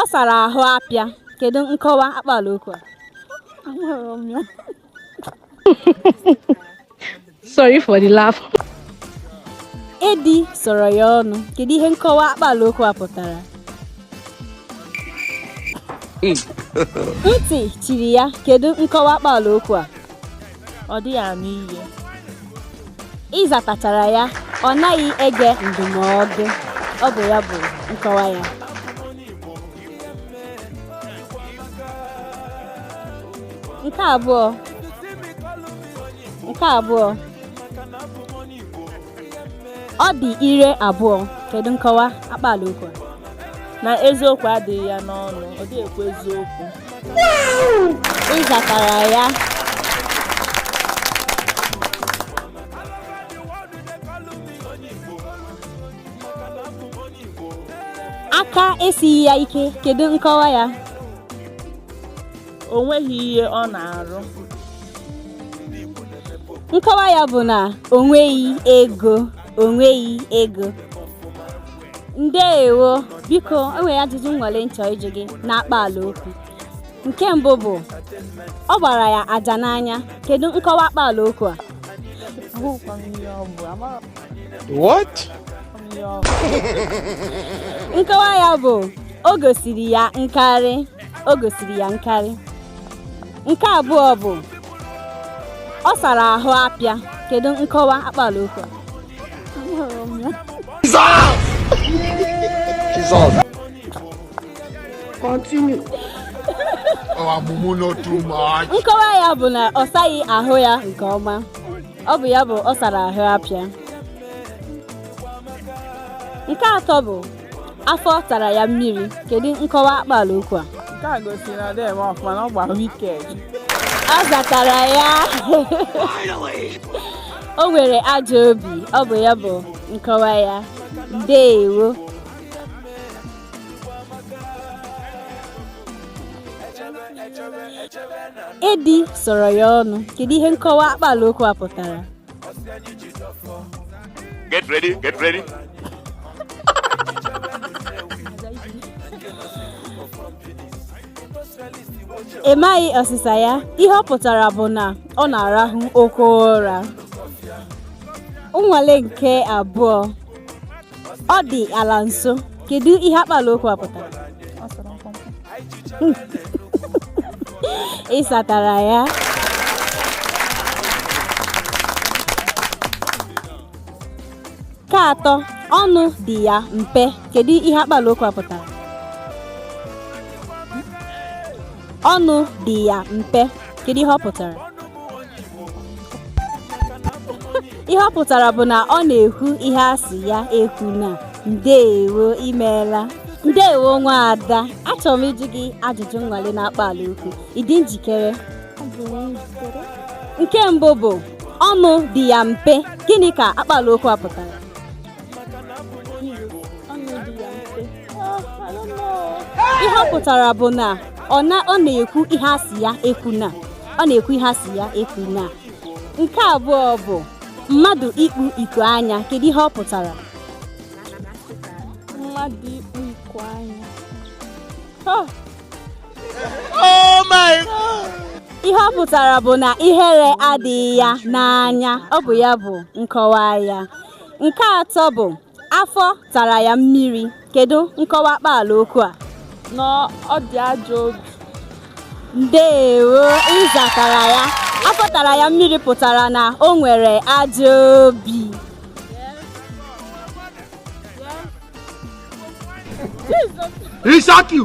Ọ sara ahụ apịa. Kedu nkọwa akpaala okwu a? Sorry for the laugh. Edi sọrọ ya ọnụ. Kedu ihe nkọwa akpaala okwu a pụtara? Ntị chiri ya. Kedu nkọwa akpaala okwu a? ọ dịghị anụ ihe ị zatachara ya ọ naghị ege ndụmọdụ ọ bụ ya bụ nkọwa ya nke abụọ nke abụọ ọ dị ire abụọ kedu nkọwa akpaala okwu a na eziokwu adịghị ya n'ọnụ ọ dịghị ekwu eziokwu ị zatara ya aka esighị ya ike kedu nkọwa ya o nweghị ihe ọ na-arụ nkọwa ya bụ na o nweghị ego o nweghị ego ndeewo biko enwere ajụjụ nnwale m chọ ịjụ gị na akpaala okwu nke mbụ bụ ọ gbara ya aja n'anya kedu nkọwa akpaala okwu a What? nkọwa ya bụ o gosiri ya nkarị o gosiri ya nkarị nke abụọ bụ ọ sara ahụ apịa kedu nkọwa akpaala okwu a Continue. oh mumu no too much. nkọwa ya bụ na ọ saghị ahụ ya nke ọma ọ bụ ya bụ ọ sara ahụ apịa nke atọ bụ afọ tara ya mmiri kedu nkọwa akpaala okwu a nke a gosiri na dị eme ọfụma na ọ gba wicked ọ zatara ya o nwere ajọ obi ọ bụ ya bụ nkọwa ya ndeewo edi sọrọ ya ọnụ kedu ihe nkọwa akpaala okwu a pụtara Get ready, get ready. ị maghị ọsịsa ya ihe ọ pụtara bụ na ọ na-arahụ oke ụra nnwale nke abụọ ọ dị ala nso kedu ihe akpala okwu a pụtara Ọ sụrụ mkpụmkpụ. ị satara ya nke atọ ọnụ dị ya mpe kedu ihe akpala okwu a pụtara ọnụ dị ya mpe kedu ihe ọ pụtara ihe ọ pụtara bụ na ọ na-ekwu ihe a sị ya ekwuna ndeewo i meela ndeewo nwaada achọrọ m ịjụ gị ajụjụ nnwale na akpala okwu ị dị njikere nke mbụ bụ ọnụ dị ya mpe gịnị ka akpala okwu a pụtara ihe ọ pụtara bụ na ọ na-ekwu ihe a sị ya ekwuna ọ na-ekwu ihe a sị ya ekwuna nke abụọ bụ mmadụ ikpu iko anya kedu ihe ọ pụtara mmadụ ikpu iko anya oh. oh my God. ihe ọ pụtara bụ na ihere adịghị ya n'anya ọ bụ ya bụ nkọwa ya nke atọ bụ Afọ tara ya mmiri. Kedu nkọwa akpaala okwu a? Na ọ dị ajọ obi. Ndeewo, ị zatara ya. Afọ tara ya mmiri pụtara na o nwere ajọ obi. E shock you.